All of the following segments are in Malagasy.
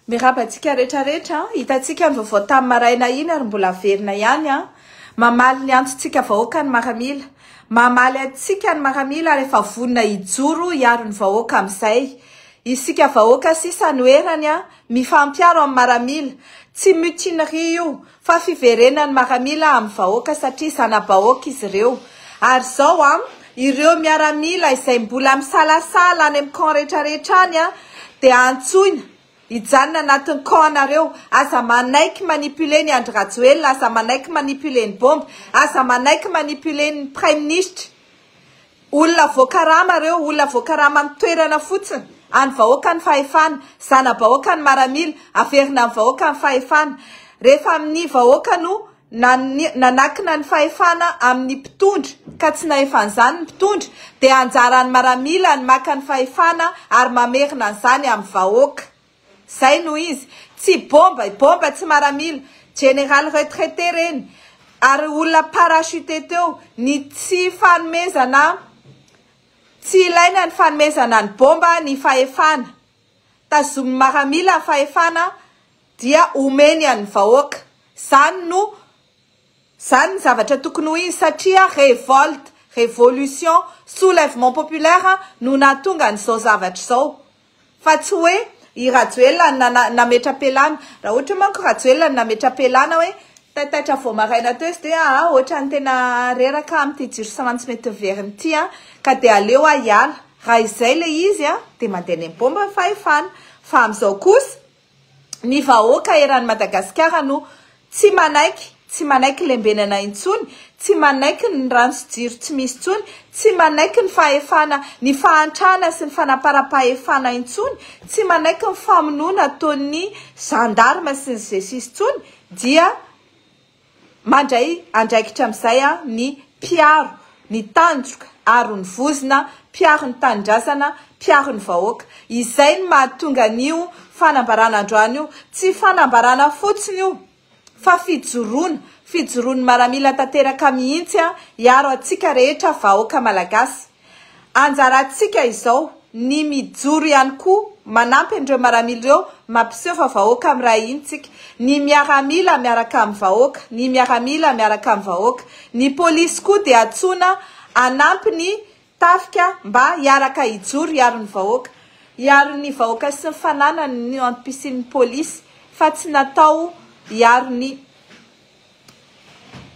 Miraba antsika rehetra rehetra, hitantsika ny vaovao tamin'ny maraina iny ary mbola averina ihany an! Mamaly ny antontsika vahoaka ny maramila, mamaly antsika ny maramila ary efa vonona hijoro hiaro ny vahoaka amin'izay. Isika vahoaka sisa no erany an! Mifampiaro amin'ny maramila, tsy mutinerie io Fa fiverenan'ny maramila amin'ny vahoaka satria zana-bahoaka izy ireo. Ary izao an, ireo miaramila izay mbola misalasala any amin'ny camp rehetrarehetra any an, dia antsoina hijanona anatin'ny camp nareo, aza manaiky manipuler ny Andry Rajoelina, aza manaiky manipuler ny bombe, aza manaiky manipuler ny praiminisitra, Olona voakarama reo, olona voakarama ny toerana fotsiny, any vahoaka ny fahefana, zanabahoaka ny maramila, averina any vahoaka ny fahefana, rehefa amin'ny vahoaka no nanakina ny fahefana amin'ny mpitondra ka tsy nahefa an'izany ny mpitondra dia anjaran'ny maramila ny maka ny fahefana ary mamerina an'izany amin'ny vahoaka. Zay no izy. Tsy bomba e, bomba tsy maramila. Général retraité reny. Ary olona parachuté teo. Ny tsy fanomezana, tsy ilaina ny fanomezana ny bomba ny fahefana. Tazomin'ny maramila ny fahefana dia omeny an'ny vahoaka. Zany no, zany ny zavatra tokony ho izy satria révolte, révolution, soulèvement populaire no nahatonga an'izao zavatra izao. Fa tsy hoe i Rajoelina no nana, nametra-pialana. Raha ohatra hoe manko Rajoelina no nametra-pialana hoe taitaitra vao maraina teo izy dia aa ohatran'ny tena reraka amin'ity jiro sy rano tsy mety miverina ity an, ka dia aleo aho hiala. Raha izay ilay izy an, dia mandeha any amin'ny bomba ny fahefana. Fa amin'izao kosa, ny vahoaka eran'i Madagasikara no tsy manaiky, tsy manaiky lembenana intsony, tsy manaiky ny rano sy jiro tsy misy intsony, tsy manaiky ny fahefana, ny fahantrana sy ny fanamparam-pahefana intsony, tsy manaiky ny famonoana ataon'ny gendarme sy ny Gcis intsony dia. Mandray andraikitra amin'izay ny mpiaro ny tandroka aro ny vozona, mpiaro ny tanindrazana, mpiaro ny vahoaka. Izay no mahatonga an'io fanambarana androany io tsy fanambarana fotsiny io fa fijoroana, fijoroan'ny maramila tanteraka mihitsy hiaro antsika rehetra vahoaka malagasy. Anjarantsika izao ny mijoro ihany koa manampy an'ireo maramila ireo mampiseho fa vahoaka miray hina tsika. Ny miaramila miaraka amin'ny vahoaka, ny miaramila miaraka amin'ny vahoaka. Ny polisy koa dia antsoina hanampy ny tafika mba hiaraka hijoro hiaro ny vahoaka. Hiaro ny vahoaka sy ny fananany no antom-pisian'ny polisy fa tsy natao hiaro ny.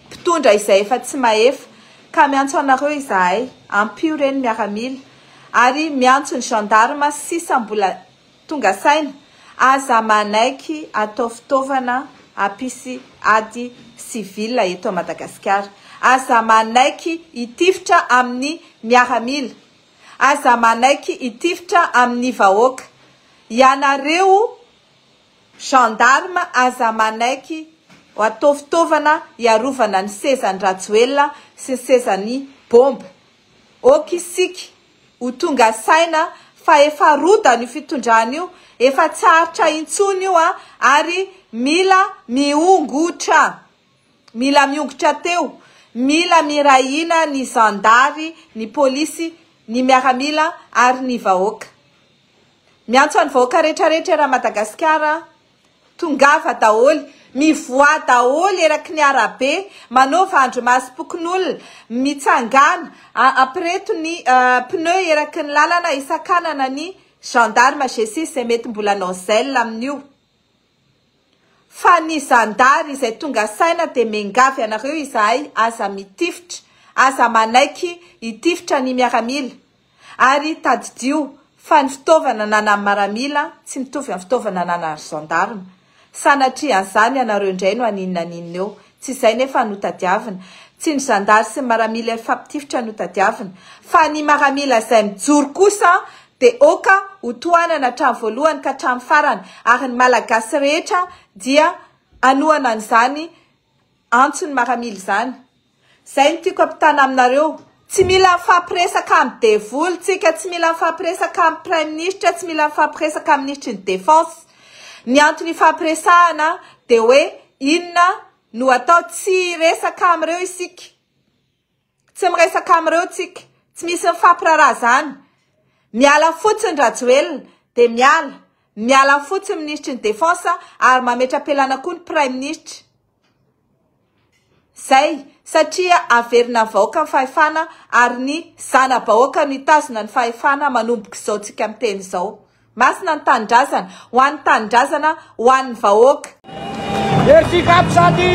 Mpitondra izay efa tsy mahefa. Ka miantso anareo izahay, ampio ireny miaramila, ary miantso ny gendarme sisa mbola tonga saina, aza manaiky atao fitaovana hampisy ady civil eto Madagasikara. Aza manaiky hitifitra amin'ny miaramila. Aza manaiky hitifitra amin'ny vahoaka. Ianareo. Gendarme aza manaiky ho atao fitaovana hiarovana ny sezan'i Rajoelina sy ny sezan'i Bomba. Ok isika ho tonga saina fa efa rodany io fitondrana io, efa tsy aritra intsony io an, ary mila miongotra, mila miongotra teo, mila miray hina ny zandary, ny polisy, ny miaramila ary ny vahoaka. Miantso an'i vahoaka rehetra rehetra eran'i Madagasikara aho, tongava daholo, mivoaha daholo eraky ny arabe, manaova andry masom-pokonolona, mitsangana, ampireto ny pneu eraky ny lalana, hisakanana ny gendarme GSIS izay mety mbola hanao zèle amin'io. Fa ny zandary izay tonga saina dia mengavy anareo izahay aza mitifitra, aza manaiky hitifitra ny miaramila ary tadidio fa ny fitaovana ananan'ny maramila tsy mitovy amin'ny fitaovana ananan'ny zandarma, sanatria an'izany ianareo indray no haninona haninona eo Tsy izay nefa no tadiavina. Tsy ny zandary sy ny maramila hifampitifitra no tadiavina, fa ny maramila izay mijoro kosa dia oka ho tohanana hatramin'ny voalohany ka hatramin'ny farany, ary ny Malagasy rehetra dia hanohana an'izany antson'ny maramila izany. Izay no tiako hampitana aminareo. Tsy mila mifampiresaka amin'ny devoly tsika, tsy mila mifampiresaka amin'ny praiminisitra, tsy mila mifampiresaka amin'ny minisitry ny defense. Ny antony ifampiresahana dia hoe inona no atao, tsy hiresaka amin'ireo isika, tsy miresaka amin'ireo tsika, tsy misy mifampiraraha izany. Miala fotsiny Rajoelina dia miala, miala fotsiny minisitry ny defense ary mametra-pialana koa ny praiminisitra. Zay, satria averina avaoka ny fahefana ary ny zana-bahoaka no hitazona ny fahefana manomboka izao tsika miteny izao. Masina ny Tanindrazana, ho an'ny Tanindrazana, ho an'ny vahoaka. Merci Cap Shady!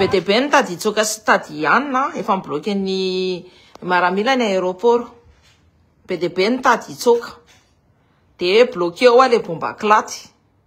Be dia be ny tady hitsoaka sy tady hianina, efa mi-bloquer ny miaramila ny aéroport. Be dia be ny tady hitsoaka. Dia bloquer ao ilay bomba kilaty.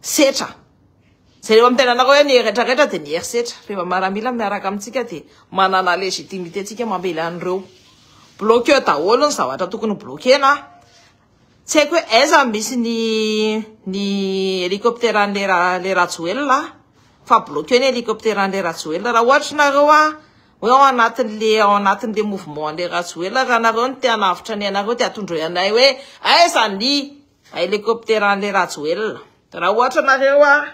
setra. Jereo amin'ny tenanareo hoe ny retraretra dia ny herisetra. Rehefa miaramila miaraka amintsika dia manana légitimité tsika mamely an'ireo. Bloquer daholo ny zavatra tokony bloquena. Tsy haiko hoe aiza no misy ny ny hélicoptère-n'le ra le Rajoelina fa bloquer ny hélicoptère-n'le Rajoelina. Raha ohatra nareo a hoe ao anatin'le ao anatin'le mouvement-n'le Rajoelina raha nareo no te hanavotra ny ainareo dia atondroy anay hoe aiza ny Helicopteran'le Rajoelina. Raha ohatra nareo a,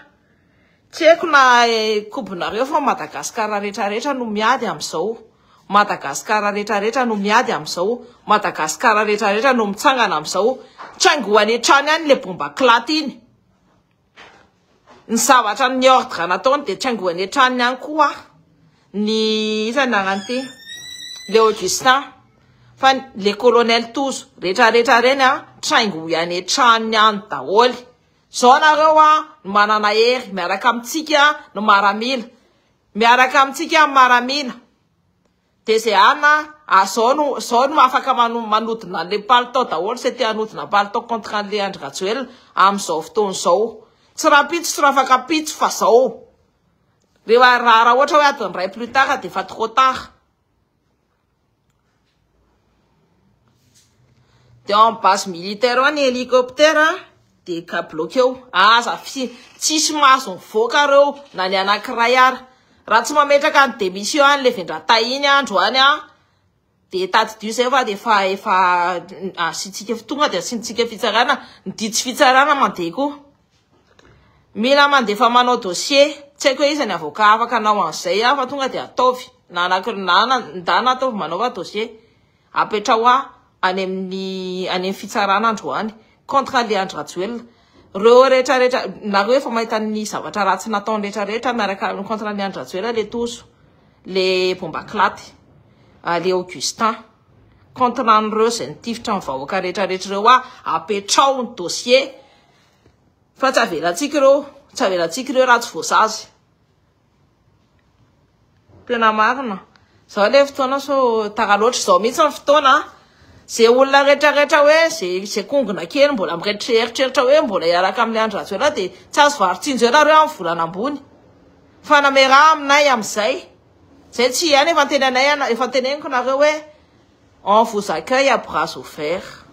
tsy haiko na kobonareo fa Madagascar rehetra rehetra no miady amzao, Madagascar rehetra rehetra no miady amzao, Madagascar rehetra rehetra no mitsangana amzao, tsy haingo any an-trano any le bomba clate iny. Ny zavatra ny ordre nataony dia tsy angoany an-tranony any koa ny iza ny anarany ity le Augustin fa le colonel Tozo rehetra rehetra ireny an traingoy any an-tranony any daholo zao nareo an no manana hery miaraka amintsika no maramila miaraka amintsika ny maramila Dia zay an a, ah zao no, zao no afaka mano, manodina anle palitao daholo zay te hanodina palitao contre anle Andry Rajoelina amin zao fotoana zao. Tsy rahampitso tsy rafakampitso fa zao. Rehefa, raha ohatra hoe adiny iray plus tard dia efa trop tard. Teo amin'ny base militaire ao ny hélicoptère dia ka bloqueo. Aza fi- tsisy mahazo mivoaka reo na ny anankiray ara. Raha tsy mametraka ny démission any le vendratahy iny andro any an, dia tadidio izay fa dia efa efa asiantsika tonga dia asiantsika fitsarana. Ny didy sy fitsarana mandeha koa. Mila mandefa manao dossier, tsy haiko hoe iza ny avocat afaka hanao an'izay aho fa tonga dia ataovy na anakir- na ana- ndana ataovy manaova dossier, apetraho ahy any amin'ny any amin'ny fitsarana androany contre an'ilay Andry Rajoelina, ireo rehetrarehetra, nareo efa mahita ny zavatra ratsy nataony rehetrarehetra miaraka amin'ny contre an'i Andry Rajoelina ilay Tojo, ilay Bomba Kilaty, ilay Augustin, contre an'ireo izay nitifitra ny vahoaka rehetrarehetra ireo aho, apetraho ny dossier. Fa tsy avelantsika ireo, tsy avelantsika ireo raha tsy voasazy. Tena marina. Zao le fotoana sao tara loatra izao mihitsy ny fotoana. Ze olona rehetra rehetra hoe ze ze kongona kely mbola mieritreritreritra hoe mbola hiaraka amin'ny Andry Rajoelina dia tsy azo varitsinjo ela reo amin'ny volana ambony. Fa nameraha aminay amin'izay. Zay tsy hay nefa tena anay efa teneniko nareo hoe On vous accueille à bras ouvert.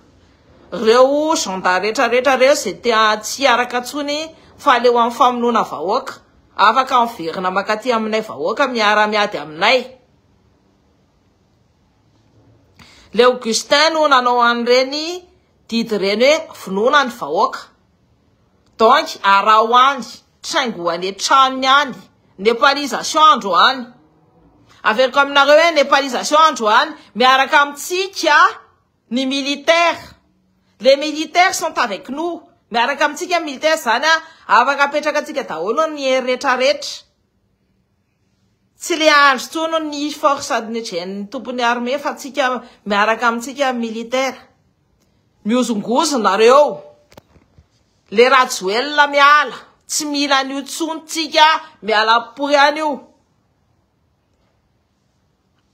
Reo gendarmes rehetra rehetra reo izay te tsy hiaraka intsony fa aleo amin'ny famonoana vahoaka, afaka miverina mankaty aminay vahoaka miara miady aminay. Le Augustin no nanao an'ireny didy ireny hoe vonoina ny vahoaka. Donc araho any. traingo any an-tranony any, nepalisation androany, averiko aminareo hoe nepalisation androany, miaraka amintsika ny militaire, les militaires sont avec nous, miaraka amintsika ny militaire, izany hoe afaka apetrakantsika daholo ny hery rehetra rehetra. Tsy le andro tsono ny force adnejen'ny tompon'ny armée fa tsika miaraka amintsika militaire. Miozongozo nareo. Le rajoelina miala. Tsy mila an'io tsony tsika miala pory any io.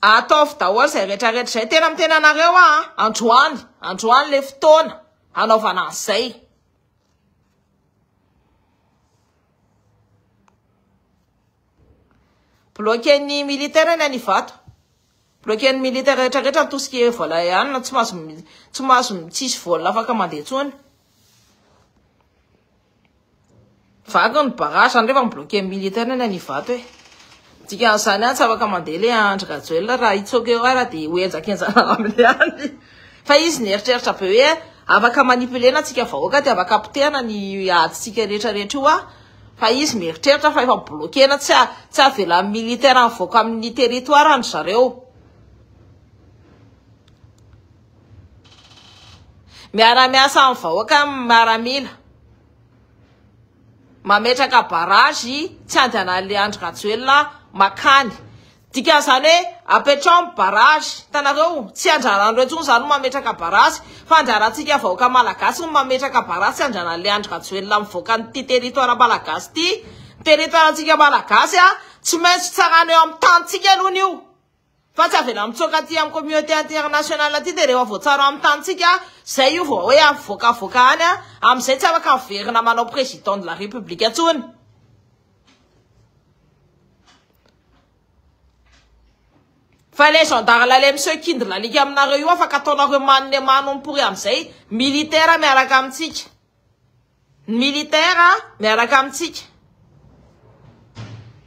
Ataovy daholo zay retraretra zay tena miteny anareo a androany androany le fotoana hanaovana an'izay. Bloquen'ny militaire ny any Ivato. Bloquen'ny militaire rehetra rehetra ny tout ce qui est vol aérienne, tsy mahazo tsy mahazo tsisy vol afaka mandeha intsony. Vaky ny barrage zany rehefa mi-bloquen'ny militaire ny any Ivato e. Dikan'izany any tsy afaka mandeha le Andry Rajoelina raha hitsoaka eo ara dia hohenjakenjana aminy any. Fa izy nieritreritra be hoe afaka manipulena antsika vahoaka dia afaka apotehana ny adintsika rehetra rehetra io a. fa izy mieritreritra fa efa bloquena tsy tsy avelan'ny militaire mivoaka amin'ny territoire ny zareo miara-miasa amin'ny vahoaka miaramila mametraka barrage tsy andehanan'ilay Andry Rajoelina makany Dikan'izany hoe apetraho ny barrage. Hitanareo, tsy andraran'ireo intsony izany no mametraka barrage, fa andrarantsika vahoaka malagasy no mametraka barrage tsy andraran'ilay Andry Rajoelina mivoaka an'ity territoire malagasy ity. Ny territoire-ntsika malagasy tsy maintsy tsarana eo amin'ny tanintsika aloha io, fa tsy avela mitsoaka aty amin'ny communauté internationale aty dia rehefa voatsara eo amin'ny tanintsika izay io vao hoe avoakavoaka any, amin'izay tsy afaka miverina manao président de la république intsony. Fa ilay zandary lahy ilay miseho kindrina alika aminareo io afaka ataonareo mano dia mano mipory amin'izay militaire miaraka amintsika. Ny militaire miaraka amintsika.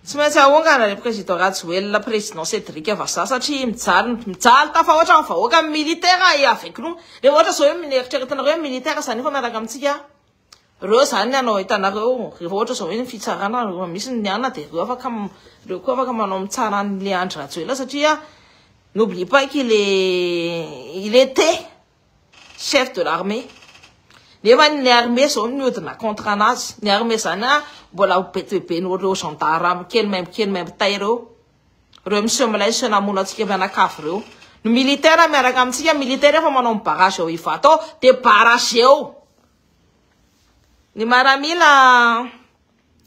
Tsy maintsy haongana ilay président Rajoelina président Cédric Vazaha satria mijaly mijaly tafahoatra ny vahoaka ny militaire et avec nous. Dia ohatra izao hoe mineritreretanareo hoe militaire izany efa miaraka amintsika. Reo zany ny anao hitanareo re ohatra zao hoe ny fitsarana reo misy ny ana de reo afaka reo koa afaka manao mitsara ny le Andry Rajoelina satria n'oublie pas qu'il est il était chef de l'armée nefa ny armée zao ny odina contre anazy ny armée zany a mbola ho betohibeny reo gendarme kely maimbo kely maimbo tay reo Reo monsieur milaisa namono antsika mianakavy reo no militaire miaraka amintsika militaire efa manao ny barrage ao Ivato ao de barrage eo ny maramila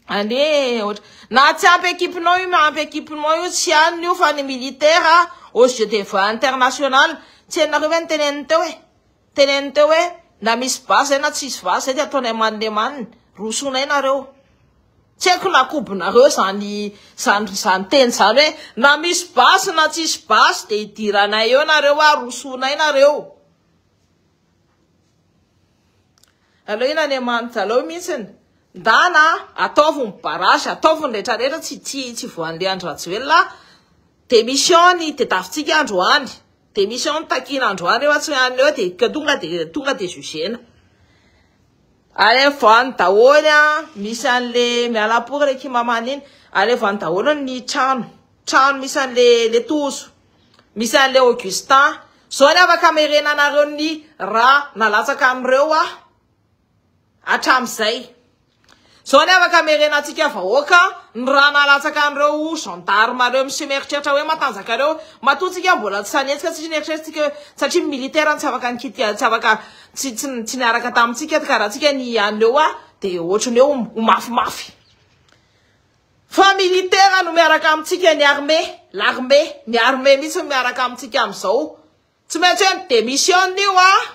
ane ohatra na tsy ampy équipe nao io na ampy équipe nao io tsy aniny io fa ny militaire au jeu de va international tsy hainareo ve ny teneniny teo e Teneniny teo hoe, na misy basy izay na tsisy basy izay dia ataonay man le man, rosoinay nareo. Tsy haiko na kobonareo izany izany izany teny izany hoe, na misy basy na tsisy basy dia idiranay eo nareo a, rosoinay nareo. Aleo iny Andriamanitra aleo mihitsiny, ndana ataovy ny barrage, ataovy ny rehetra rehetra tsy tsy tsy voan'le Andry Rajoelina a, démission ny tedavitsika androany. Dia misy ao ny takiana androany eo tsy any eo dia ka tonga dia tonga dia jugena. Alevo any daholo a, misy an'le miala pour le kimamana iny, alevo any daholo ny trano, trano misy an'le le tozo, misy an'le Augustin, zao ny afaka amerenanareo ny rà nalatsaka an'ireo aho. Hatramin'izay. Izao anie afaka hamerena antsika vahoaka ny rà nalatsaka an'ireo gendarmes ireo miseho mieritreritra hoe matanjaka ireo. Matoa tsika mbola tsy hanetsika satria nieritreretintsika hoe satria ny militaire no tsy afaka nikitia, tsy afaka tsy tsy tsy niaraka tamintsika ka raha antsika ny an'ireo a dia hoatry ny hoe ho mafimafy. Fa militaire no miaraka amintsika ny armée, l'armée, ny armée mihitsy no miaraka amintsika amin'izao. Tsy maintsy hoe mi-demissionne io an!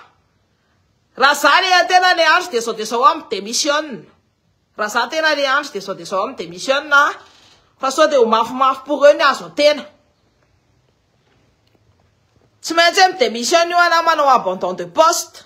Raha za le tena le Andry dia zao dia zao aho mi-demissionne. Raha za tena le Andry dia zao dia zao aho mi-demissionne an! Fa sao dia ho mafimafy pour eux ny azo an-tena. Tsy maintsy hoe mi-demissionne io an na manao abandon de poste.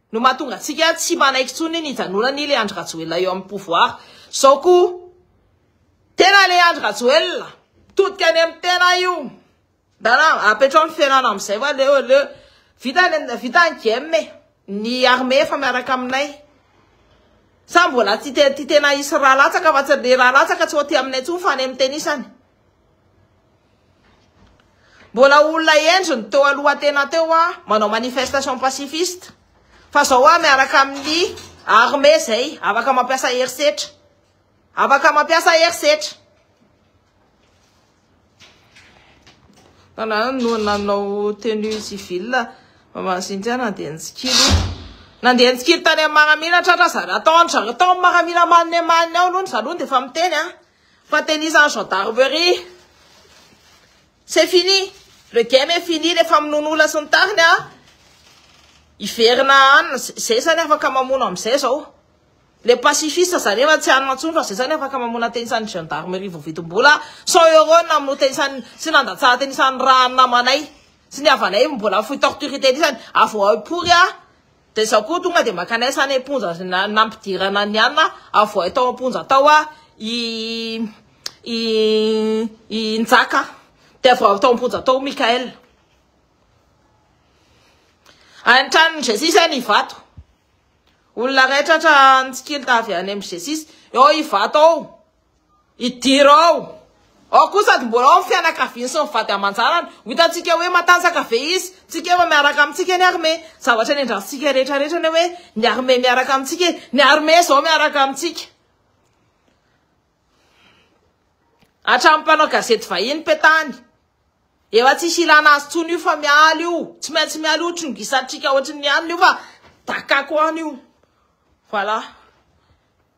no mahatonga antsika tsy manaiky intsony ny hijanonany le Andry Rajoelina eo amin'ny pouvoir zao ko tena le Andry Rajoelina mitodika any amin'ny tena io ndana apetrao ny fiainana amin'izay fa leo leo vita vita ny game ny armée efa miaraka aminay sa mbola tsy te tena hisy raha latsaka fa tsy le raha latsaka tsy ho aty aminay intsony fa any amin'ny tenisany Mbola olona hendry ny teo aloha tena teo a, manao manifestation pacifiste. Fa zao a miaraka amin'ny armée zay, afaka mampiasa herisetra. Afaka mampiasa herisetra. Tana no nanao tenue civile maman Cynthia nandeha nitsikilo. Nandeha nitsikilo tany amin'ny maramila tratra zara tao zara tao amin'ny maramila manne manne ao aloha zaloha dia efa miteny a. Fa tenizan'ny gendarmerie. C'est fini. Le game est fini le famonoan'olona sy ny tariny a. Hiverina any zay zany afaka mamono amin'izay zao. Le pacifiste zany efa tsy any mantsony fa zay zany afaka mamono an-tenisan'ny gendarmerie voavidim-bola 100 euros namono tenisan'ny sy nandatsaha tenisan'ny raha namanay sy ny havanay mbola fohy torture tenisany. Avoahy pory a. Da izaho koa tonga dia maka anay sany am-ponja sy na- nampidirana ny anona avoay tao am-ponja tao a i i i Njaka dia avy ao tao am-ponja tao Mickaël any an-tranon'i Jesisy any Ivato olona rehetra tra nitsikilo ta avy any amin'i Jesisy eo Ivato ao Idirao ao koa sady mbola ao ny fianakaviany sy ny vady aman-janany. Ho hitantsika hoe matanjaka ve izy? Tsy keo fa miaraka amintsika ny armée. Zavatra niandrasantsika rehetra rehetra ny hoe ny armée miaraka amintsika e! Ny armée izao miaraka amintsika. Hatramin'ny mpanao gazety vahiny petany. Efa tsisy ilana azy intsony io fa miala io. Tsy maintsy miala io trongisantsika ohatry ny anona io fa dakako any io. Voilà.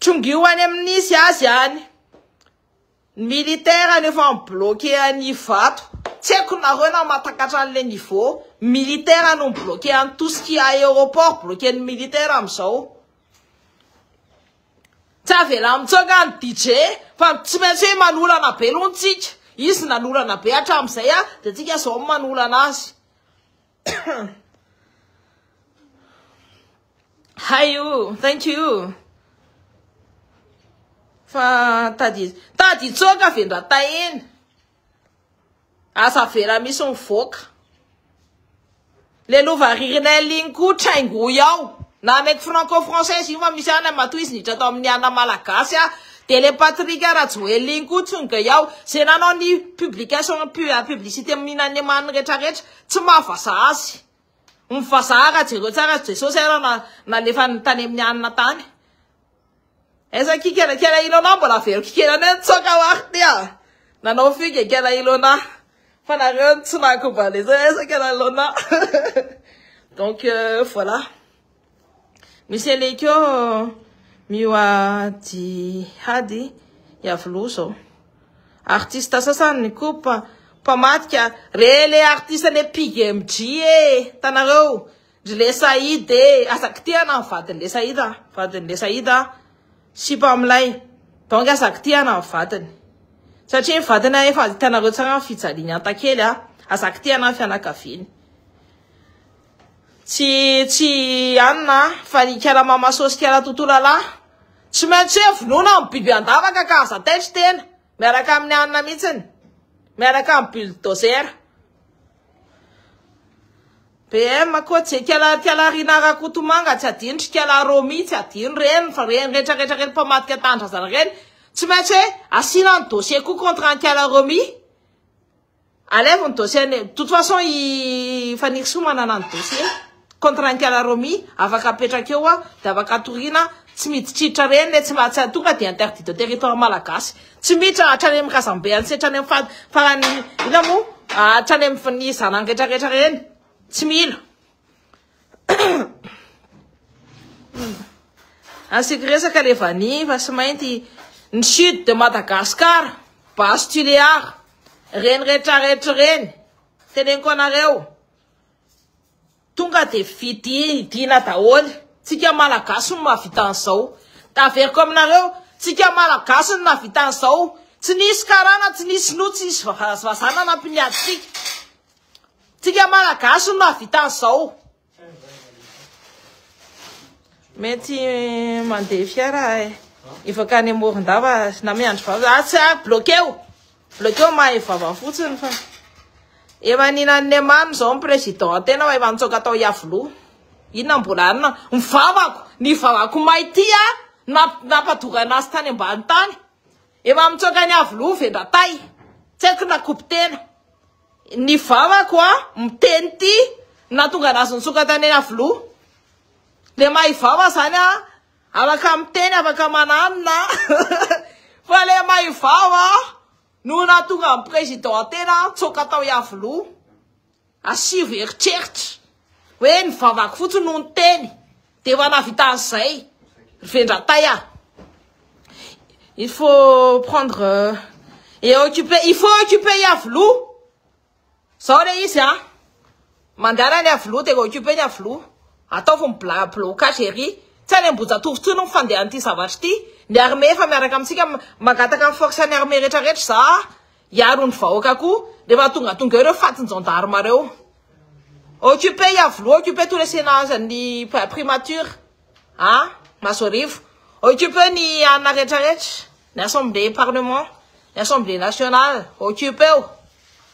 Trongio any amin'ny nisy azy any. Ny militaire any efa mi-bloqué any Ivato. Tsy haiko nareo na mahatakatra an'ilay niveau. Militaire no mi-bloqué any tout ce qui est aéroport bloqué-n'ny militaire amin'izao. Tsy avela mitsoaka ny DJ fa tsy maintsy hoe manolana be aloha ny tsika. Izy nanolana be hatramin'izay dia tsika izao no manolana azy. Hay o, thank you. Fa tady tady hitsoaka vendratahena. Asa avela misy mivoaka. Le lova ririnel iny koa traingoy ao. Na mety franco française io fa misy ana matoa izy niditra tao amin'ny ana malagasy a. Dia le Patrick Rajoel iny koa tsonga ao. Ze nanao ny publication publicité minan'ny eman'ny retraretra Tsy maha vazaha azy. Ny vazaha raha jereo tsara azy Jesosy ary na nalefany tany amin'ny hanina tany. Aiza ny kikelakela Ilona mbola avelo kikela anay nitsoaka ho ary ty a! Nanao fugue kela Ilona fa nareo ny tsy naha-kobaliser aiza kela Ilona donc voilà. Misy elekeo mioa jihady Yavlo zao. Artiste sasany ny kopa mpamadika re le artiste le PGMG e tanareo ry le Saïd e aza kitihana ny vadiny le Saïd a vadiny le Saïd a sipa milay donc aza kitihana ny vadiny satria ny vadiny a efa hitanareo tsara ny fijaliany antakely a aza kitihana ny fianakaviany Tsy tsy anona a! Fa ny ikara mama soa sy ikara toto lalahy tsy maintsy hoe vonoina amin'ny biby an-davaka ka aza taitry tena miaraka amin'ny anona mihitsiny miaraka amin'ny bulldozer. BM koa tsy ikala ikala Rina Rakotomanga tsy adino tsy ikala Romy tsy adino reny fa reny rehetra rehetra reny mpamadika tanindrazana reny tsy maintsy hoe asiana ny dossier koa contre an'i Kala Romy. Alevo ny dossier any. De toute façon i Fanirisoa manana ny dossier. Contrat Nkala Romy afaka apetraka eo de afaka atoriana tsy miditriditra reny le tsy tsy tonga de interdit de territoire malagasy. Tsy miditra hatrany amin'ny razambe antsy hatrany amin'ny farany inona moa hatrany amin'ny zanany retraretra reny. Tsy mila. Asiako resaka le vanille fa sy mainty ny sud de Madagascar, base Tuléar, reny rehetra rehetra reny, teneniko anareo, tonga de vidiana daholo, tsika malagasy no mahavita an'izao, taveriko aminareo, tsika malagasy no nahavita an'izao, tsy nisy karana, tsy nisy sinoa, tsy nisy vazaha nanampy ny atsika. Tsika malagasy no mahavita an'izao. Mety mandeha fiara hivoaka any Morondava na miandry vava. Ah, tsy ah, bloqueo. Bloqueo mahay vava fotsiny fa. Efa ninan'ny Neymar izao ny président tena fa efa nitsoaka tao Iavoloha. Inona mbola anona? Ny vavako, ny vavako may ty ah, nampadorana azy tany ambany tany. Efa mitsoaka ny Iavoloha vendratay. Tsy haiko na kopy tena. Ny vavako a miteny ty natonga anazy nitsoka tany Iavoloha le maha ivava zany a afaka miteny afaka mananona fa le maha ivava no natonga ny président tena nitsoka tao Iavoloha asivo eritreritra hoe ny vavako fotsiny no niteny dia efa nahavita an'izay ry vendratay ah il faut prendre euh, et occuper il faut occuper i aviloha zao le izy ah mandehana ny aviloha dia occuper ny aviloha ataovy ny bla blocage ery tsy any ambojatovo tsy no mifandehan'ity zavatra ity ny armée efa miaraka amintsika mangataka ny force ny armée rehetra rehetra za Hiaro ny vahoaka koa rehefa tongatonga eo ireo fatin-jandarma ireo. Occuper Iavoloha, occuper tous les senats an'ny primature à Masorivo, occuper ny anona rehetrarehetra, ny assemblée parlement, ny assemblée nationale, occuper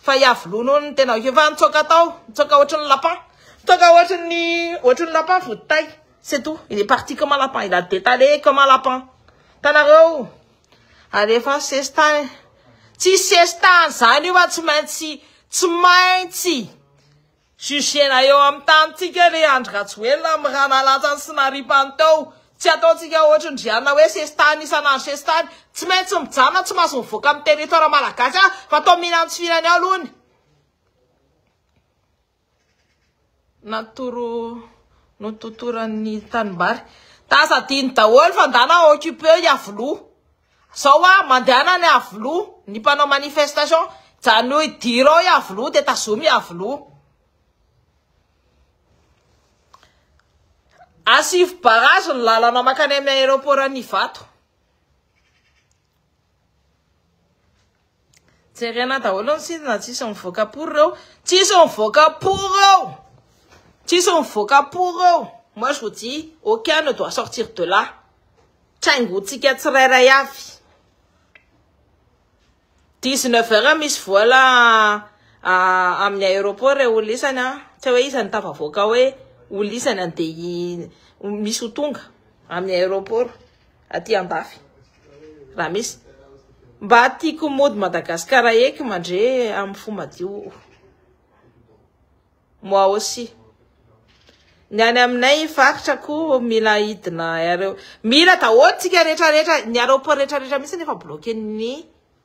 fa Iavoloha noho ny tena occuper fa nitsoaka tao, nitsoaka ohatry ny lapin, nitsoaka ohatry ny ohatry ny lapin vody tay, c'est tout, il est parti comme un lapin, il a détalé comme un lapin, hitanareo. Alefaso sestan e. Tsy sestan zany io fa tsy maintsy tsy maintsy jugena eo amin'ny tanintsika le Andry Rajoelina amin'ny raha nalatsany sy naripany tao. Tsy ataontsika ohatry ny Riana hoe sestan isan'andro sestan. Tsy maintsy mijanona tsy mahazo mivoaka amin'ny territoire malagasy fa atao mihinantsifirany ao aloha ny natoro nototoran'ny tanimbary tasa adino daholo fa ndana occupé i Iavoloha zao hoa mandehana any Iavoloha ny mpanao manifestation jany hoe diro ao Iavoloha dia tazomy Iavoloha asivo barrage ny lalana makany amin'ny aéroport an'Ivato Jerena daholo ny site na tsisy mivoaka pour eo. Tsisy mivoaka pour eo. Tsisy mivoaka pour eo. Moi je vous dis aucun ne doit sortir de là. Traingontsika tsirairay avy. 19 heures misy vola ah, amin'ny aéroport e olisany an. Tsy hoe iza no tafavoaka hoe olisany andeha misy ho tonga amin'ny aéroport. aty andafy raha misy mba tiako mody Madagascar eky mandre amin'ny fo madio moi aussi ny any aminay faritra koa mila hidina aéro mila daholo tsika rehetra rehetra ny aéroport rehetra rehetra mihitsy nefa bloqué ny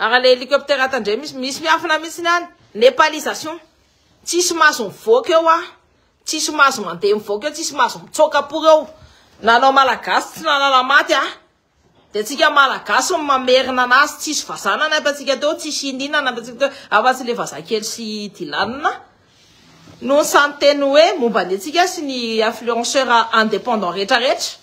Ary le hélicoptère tandremo misy misy miafina misy ny any. Népalisation. Tsisy maso mivoaka eo ah. Tsisy maso mandeha mivoaka eo, tsisy maso mitsoka pour eo. Nanao malagasy tsy nanala maty ah. De tsika malagasy no mamerina anazy, tsisy vazaha nanampy antsika teo, tsisy inona inona nanampy antsika teo afa tsy le vazaha kely sy dilanina no samy teny hoe momba ny antsika sy ny influenceur indépendant retraretra.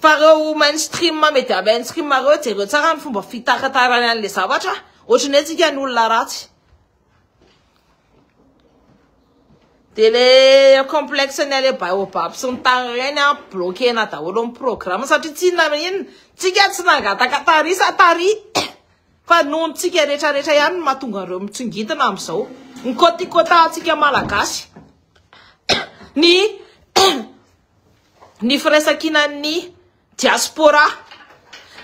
Fa reo mainstream media mainstream reo jereo tsara ny fomba fitaratarany anle zavatra ohatry ny hoe tsika ny olona ratsy de le complexe ny ale baobab sy ny tany reny a bloquena daholo ny programme satria tsy inona na inona tsika tsy nangataka tary sa tary fa nohon tsika rehetra rehetra ihany no mahatonga reo mitsingidina amizao ny kotikotantsika malagasy ny ny firaisankinan'ny diaspora,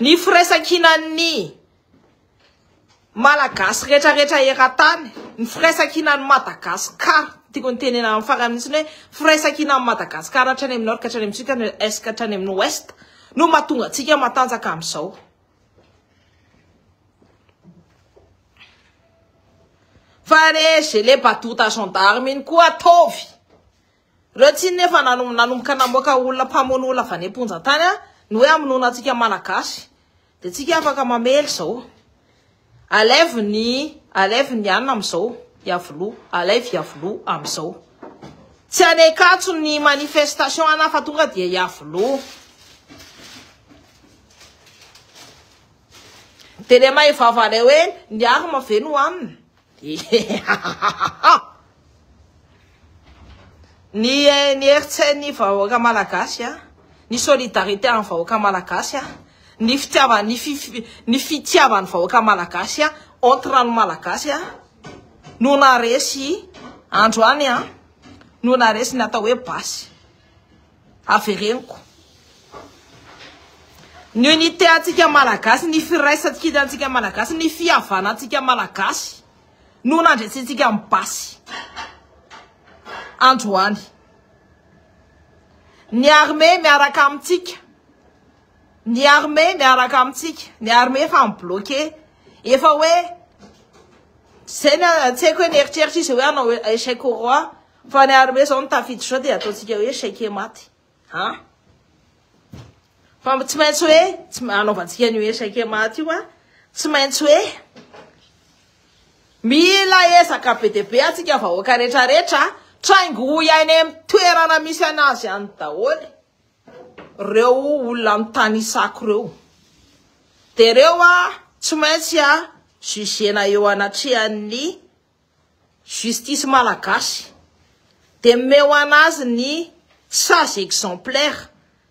ny firaisankinan'ny Malagasy rehetrarehetra eran-tany, ny firaisankinan'i Madagasikara, tiako ny tenena amin'ny farany mihitsy ny hoe firaisankinan'i Madagasikara hatrany amin'ny Nord ka hatrany amin'ny Sud ka hatrany amin'ny Est ka hatrany amin'ny Ouest no mahatonga antsika matanjaka amin'izao. Fa re gelé badoa ta gendarme iny koa ataovy Ireo tsinona efa nanomboka namoaka olona mpamono olona avy any am-ponja tany ny hoe hamonoana antsika Malagasy. Dia tsika afaka mamely izao. Alaivo ny alaivo ny anona amin'izao Iavoloha. Alaivo Iavoloha amin'izao. Tsy any Ankatso ny manifestation ana fa tonga dia Iavoloha. Dia ilay maivava ilay hoe ny arme ve no hanina? Hihihahahaha! Ny ny heritsen'ny vahoaka malagasy a, ny solidarité an'ny vahoaka malagasy a, ny fitiava ny fi fi ny fitiavan'ny vahoaka malagasy a, entre an'ny malagasy a, no naharesy androany a, no naharesy ny atao hoe basy. Avereniko ny unité antsika Malagasy, ny firaisankina antsika Malagasy, ny fihavana antsika Malagasy no nandresentsika amin'ny basy androany. Ny armée miaraka amintsika, ny armée miaraka amintsika, ny armée efa mi-bloqué, efa hoe, zay ny tsy haiko hoe nieritreritra izy hoe hanao échec au roi, Fa ny armée zao no tafiditra zao dia ataontsika hoe chèque maty a! Fa tsy maintsy hoe tsy anaovantsika ny hoe chèque maty io a! Tsy maintsy hoe mila ezaka be dia be antsika vahoaka rehetra rehetra traingo hoy any amin'ny toerana misy anazy any daholo reo olona mitanisako reo. Dia reo a tsy maintsy a jugena eo anatrehan'ny Justice malagasy de meo anazy ny sage exemplaire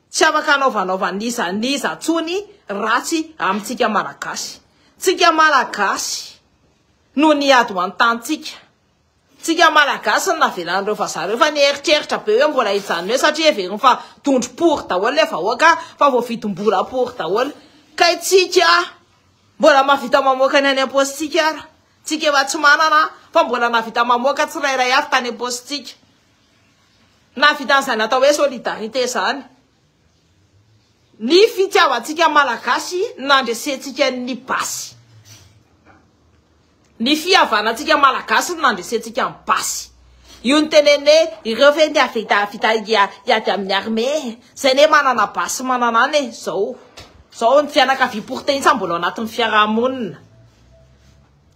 tsy afaka anaovanaova n'iza n'iza tsony ratsy amintsika malagasy tsika malagasy no niady ho antantsika tsika malagasy no navelan'ireo vazaha reo fa nieritreritra be hoe mbola hijanona eo satria heveriny fa dondro pory daholo le vahoaka fa voavidim-bola pory daholo kay tsika mbola mahavita mamoaka ny any am-paositsika ara Tsika efa tsy manana fa mbola nahavita mamoaka tsirairay avy tany am-paosintsika. Nahavita an'izany atao hoe solidarité izany. Ny fitiavantsika Malagasy nandresentsika ny basy. Ny fihavanantsika Malagasy no nandresentsika ny basy. Io ny tenene ireo ve ndia vita vita hiady amin'ny armée zay ne manana basy manana any e zao zao ny fianakaviam-porotehina mbola ao anatin'ny fiarahamonina.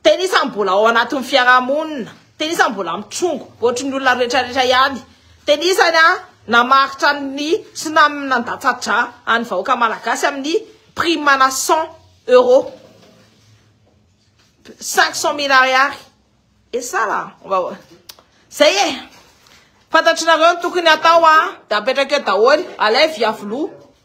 Tena isan'ny mbola ao anatin'ny fiarahamonina. Tena isan'ny mbola mitrongo, ohatry ny olona rehetrarehetra ihany. Tena isany a, namaritra ny tsunami nandatsa-dra an'ny vahoaka malagasy amin'ny prime ana 100 euros. 500 mille ariary. Et ça là, on va voir. Zay e, fantatr'inareo ny tokony hatao a, dia apetraka eo daholo, alaivo hiavoloha,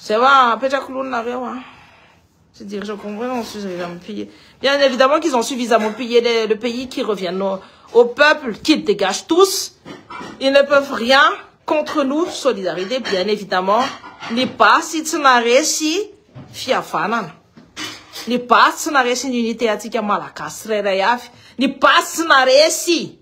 Zay wa apetrako lony nareo a. Tsy dire je comprends non suzy rehetra am pille. Bien évidemment qu'ils ont suffisamment pillé le, le pays qui reviennent au, au peuple qu'ils dégagent tous. Ils ne peuvent rien contre nous solidarité bien évidemment. Ny basy tsy naresy fihavanana. Ny basy tsy naresy ny unité antsika malagasy tsirairay avy. Ny basy tsy naresy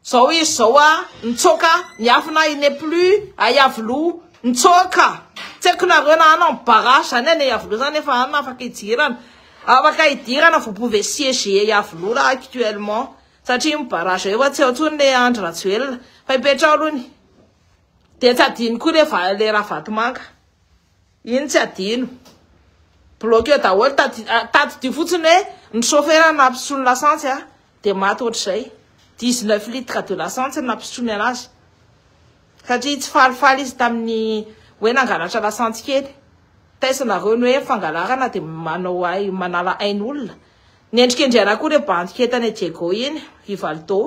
Zao izy zao a nitsoaka miafina il n'est plus a Iavoloha nitsoaka tsy haiko nareo na hanao ny barrage zany any a Iavoloha zany efa any afaka hidirana afaka hidirana vous pouvez siéger a Iavoloha raha actuellement satria ny barrage efa tsy ao intsony le Andry Rajoelina fa hipetraho aloha ny dia tsy adino koa le le Ravatomanga Iny tsy adino. Bloquer daholo tady tadidio fotsiny hoe ny chauffeur nampisotroiny lasantsy a dia maty ohatr'izay. 19 litres de lasantsy no nampisotroiny anazy. Satria tsy falifaly izy tamin'ny hoe nangalatra lasantsy kely. Taisinareo ny hoe ny fangalarana dia manao ai- manala ain'olona. Nendrikendrehana koa ilay bandy kely tany Diego iny, i Valdo,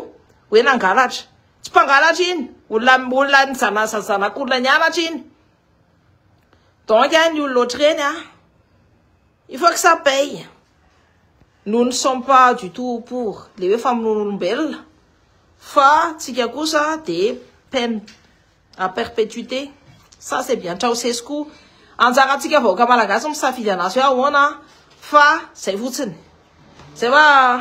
hoe nangalatra. Tsy mpangalatra iny, olona olona nijanazan'ny zanak'olona nianatra iny. Donc ny olona ohatr'ireny a, il faut que ça paye. Nous ne sommes pas du tout pour le hoe famonoan'olombelona fa tsika kosa dia peine à perpétuité. Ça c'est bien Ceausescu. Anjarantsika vahoaka malagasy misafidy anazy hoe ahoana fa zay fotsiny. Zay va